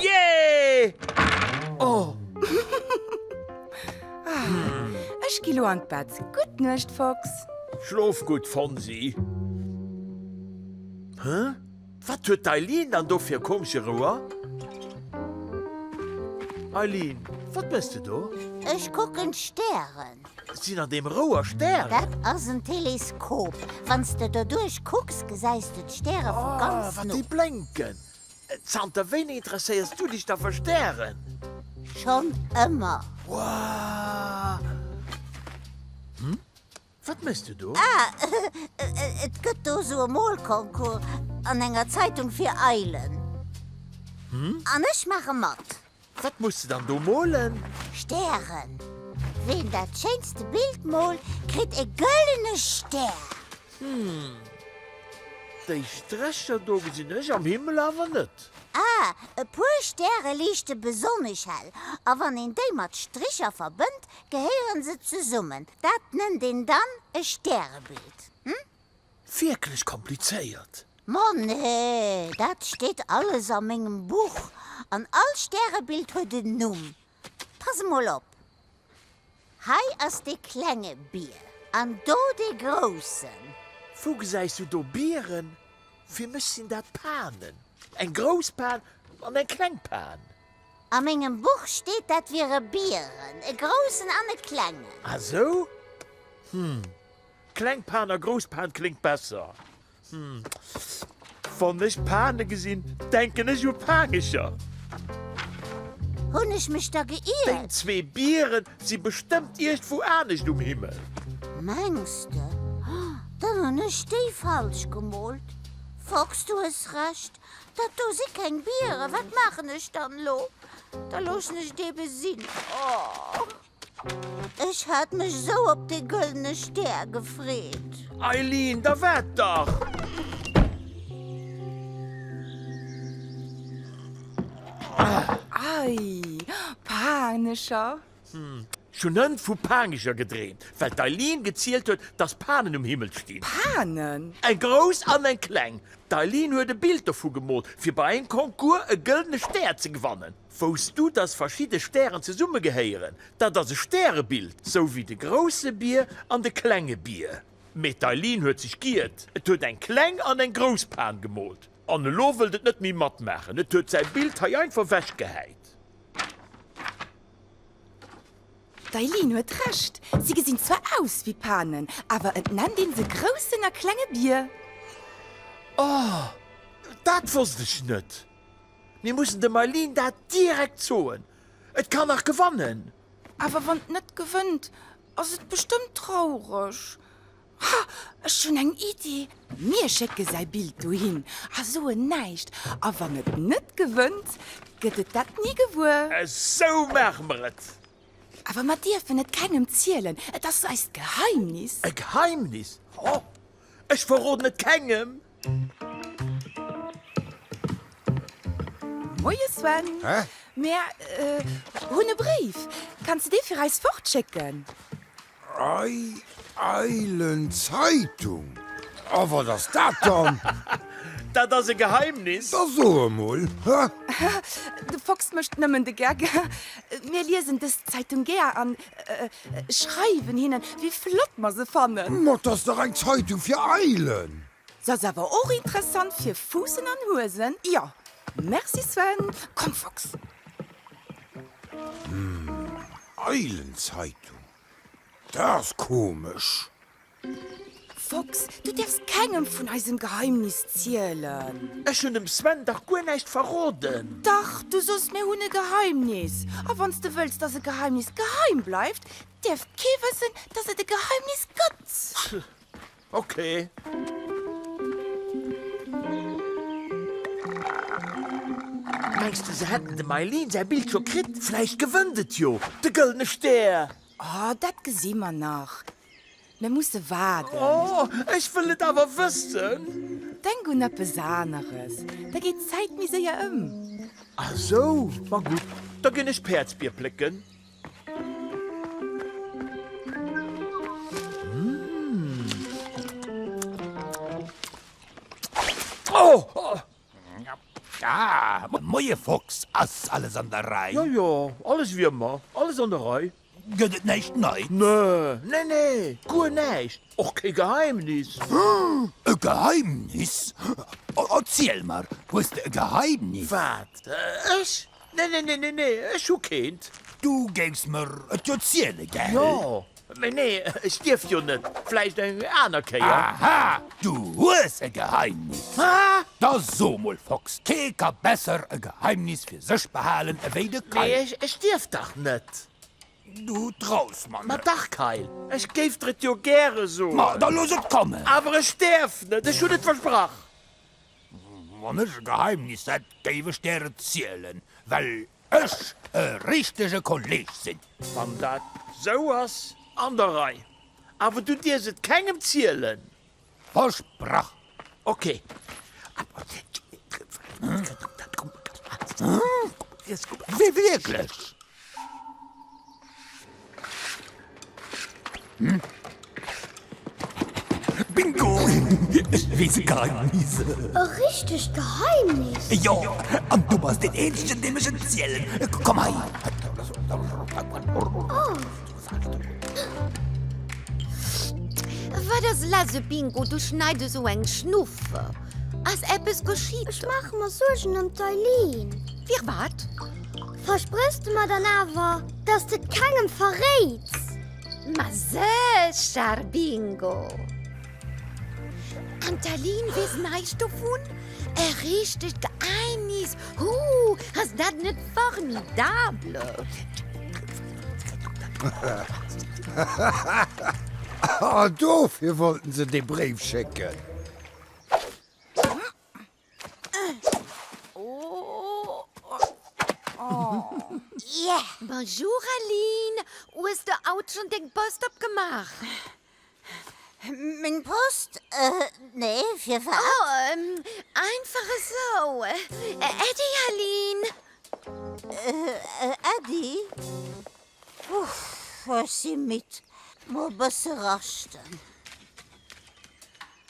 Jeeeh! Oh! Ech gi lo an d'Bett. Gutt Nuecht, Fox. Schlof gutt, Fonsi. Hä? Wat huet d'Eileen dann do fir e komesche Rouer? Eileen, wat méchs de do? Ech kucken d'Stären. Sinn an deem Rouer Stären? Dat ass en Teleskop. Wann s de doduerch kucks, gesäis de d'Stäre vu ganz no. Ah, wat déi blénken! Zanter wéini interesséiers du dech da fir Stären? Schonn ëmmer. Hm? Wat méchs du do? Ah, et gëtt do esou e Molconcours an enger Zeitung fir Eilen. Hm? An ech maache mat. Wat muss de dann do molen? Stären. Ween dat schéinste Bild moolt, kritt e gëllene Stär. Hm, déi Strächer do gesinn ech am Himmel awer net. Ah, e puer Stäre liichte besonnesch hell, a wann een déi mat Stricher verbënnt, gehéiere se zesummen. Dat nennt een dann e Stärebild. Hm? Wierklech komplizéiert. Ma nee, dat steet alles a mengem Buch, an all Stärebild huet en Numm. Pass emol op, hei ass dee klenge Bier, an do dee groussen. Wou gesäis du do Bieren? Fir mech sinn dat Panen, eng grouss Pan an eng kleng Pan. A mengem Buch steet, dat wiere Bieren, e groussen an e klengen. Ah sou? Hm. Kleng Pan a grouss Pan kléngt besser. Hm, wann ech Pane gesinn, denken ech u Paangecher. Hunn ech mech da geiert? Déi zwee Biere si bestëmmt iergdwou anescht um Himmel. Mengs de? Dann hunn ech déi falsch gemoolt. Fox, du hues Recht, dat do si keng Biere. Wat maachen ech dann elo? Da loossen ech dee besinn. Oh! Ech hat mech esou op dee gëllene Stär gefreet. Eileen, da waart dach! Ei, Paangecher! Ech hunn hënt vu Paangecher gedreemt, well d'Eileen gezielt huet, dass Panen um Himmel stinn. Panen? Eng grouss an eng kleng. D'Eileen huet e Bild dovu gemoolt, fir bei engem Concours e gëllene Stär ze gewannen. Wousst du, dass verschidde Stären zesummegehéieren? Dat ass e Stärebild, sou wéi de Grousse Bier an de Klenge Bier. Mee d'Eileen huet sech giiert, et huet eng Kleng an eng Grouss Pan gemoolt an elo wëllt et net méi matmaachen. Et huet säi Bild hei einfach wechgehäit. D'Eileen huet Recht, si gesinn zwar aus wéi Panen, awer et nennt een se Groussen a Klenge Bier. Oh, dat wosst ech net. Mir mussen dem Eileen dat direkt soen. Et kann nach gewannen. Awer wann et net gewënnt, ass et bestëmmt traureg. Ha, ech hunn eng Iddi. Mir schécke säi Bild dohin a soen näischt. A wann et net gewënnt, gëtt et dat ni gewuer. Esou maache mer et. Awer mer dierfen et kengem zielen. Et ass eist Geheimnis. E Geheimnis? Ech verroden et kengem. Moie Sven, mär hunn e Bréif. Kanns de dee fir eis fortschécken? Eilenzeitung? A wat ass dat dann? Dat ass e Geheimnis. Da so emol! De Fox mécht nëmmen de Geck. Mir liesen dës Zeitung gär an Schreiwen hinnen wéi flott mer se fannen. Ma t'ass dach eng Zeitung fir Eilen. Se ass awer och interessant fir Fuussen an Huesen, jo. Merci Sven, komm Fox. Hm, Eilenzeitung, dat ass komesch. Fox, du dierfs kengem vun eisem Geheimnis zielen. Ech hun dem Sven dach guer näischt verroden. Dach, du sos mir hun e Geheimnis. A wanns de wëlls dass e Geheimnis geheim bleift, dierf kee wëssen dass et e Geheimnis gëtt. Okay. Mengs du se hätten dem Eileen säi Bild scho kritt? Vläicht gewënnt et jo de gëllene Stär. Oh, dat gesi mer nach. Mir musse waarden. Oh, ech wëll et awer wëssen! Denk un eppes aneres, da geet d'Zäit méi séier ëm. Ah sou, ma gutt, da ginn ech Päerdsbier plécken. Oh! Ah, moie Fox, ass alles an der Rei? Jo, jo, alles wéi ëmmer, alles an der Rei. Gëtt et näischt Neit? Nö, nee, nee, guer näischt, och kee Geheimnis. E Geheimnis? Erziel mer, hues de e Geheimnis? Wat, ech? Nee, nee, nee, nee, nee, ech hu keent. Du géifs mer et jo ziele, gell? Jo, mee nee, ech dierf jo net. Vläicht eng aner Kéier. Aha, du hues e Geheimnis. Hä? Da so mol, Fox, kee ka besser e Geheimnis fir sech behalen ewéi de Kayl. Mee ech dierf dach net. Du traus mer net. Ma dach, Kayl, ech géif der et jo gäre soen. Ma da looss et kommen. Awer ech däerf net, ech hunn et versprach. Wann ech e Geheimnis hätt, géif ech der et zielen, well ech e richtege Kolleg sinn. Wann dat esou ass, an der Rei. Awer du dierfs et kengem zielen. Versprach. Ok. Wierklech? Bingo! Ech weess e Geheimnis. E richtegt Geheimnis? Jo, an du bass deen eenzegen, deem ech et zielen. Komm hei. Oh. Wat ass lass, Bingo? Du schneid esou eng Schnuffe. Ass eppes geschitt? Ech maache mer Suergen ëm d'Eileen. Firwat? Versprëchs de mer dann awer, dass de et kengem verréits? Ma sécher, Bingo! An d'Aline weess näischt dovun? E richtegt Geheimnis! Huu, ass dat net formidable! Ah, dofir wollten se dee Bréif schécken! Bonjour Aline, o hues de haut schon deng Post opgemaach? Meng Post? Nee, firwat? Oh, einfach esou. Äddi Aline. Äddi? Ech si midd, muer e bësse raschten.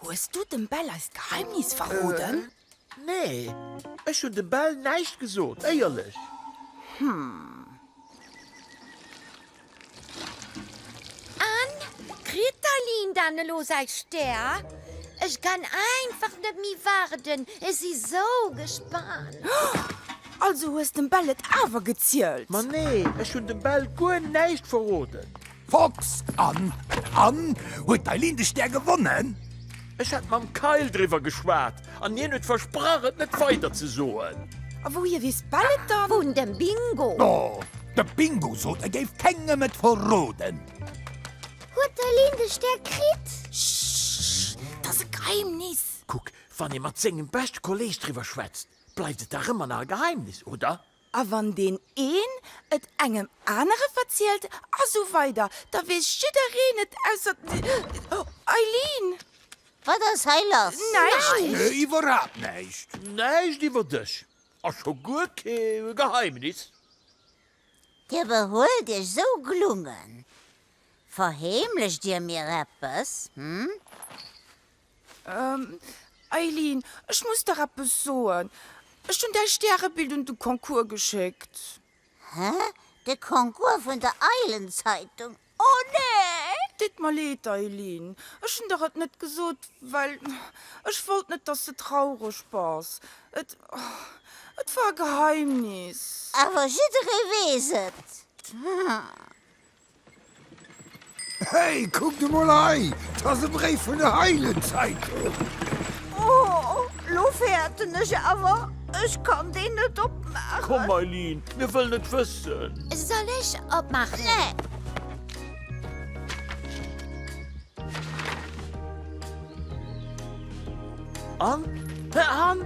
Hues du dem Bell eist Geheimnis verroden? Nee, ech hunn dem Bell näischt gesot, éierlech. An, kritt d'Aline dann elo säi Stär? Ech kann einfach net méi waarden, ech si sou gespaant. Also hues dem Bell et awer gezielt? Ma nee, ech hunn dem Bell guer näischt verroden. Fox, An? An? Huet d'Eileen de Stär gewonnen? Ech hat mam Kyle driwwer geschwat an hien huet versprach et net weider ze soen. A wouhier weess Belle et dann? Vun dem Bingo. No, de Bingo sot e géif kengem et verroden. Huet d'Eileen de Stär kritt? Ssssss, et ass e Geheimnis. Kuck, wann ee mat sengem beschte Kolleeg driwwer schwätzt, bleift et dach ëmmer nach e Geheimnis, oder? A wann deen een et engem anere verzielt a sou weider, da weess jiddereen et ausser d'Eileen. Wat ass hei lass? Näischt. Iwwerhaapt näischt. Näischt iwwer dech a scho guer kee Geheimnis. Dir behuelt iech esou glungen. Verheemlecht dir mir eppes, hm? Eileen, ech muss der eppes soen, Ech hunn däi Stärebild un de Concours geschéckt. Hä? De Concours vun der Eilenzeitung? Oh nee! Deet mer leed, Eileen. Ech hunn der et net gesot, well ech wollt net, dass s de traureg bass. Et, et war e Geheimnis. Awer jidderee weess et. Hey, kuckt emol hei, 't ass e Bréif vun der Heilenzeitung! Oh, lo fäerten ech awer, ech kann deen net opmaachen. Komm, Mailyn, mir wëllen et wëssen! Soll ech opmaachen? Nee! An? An?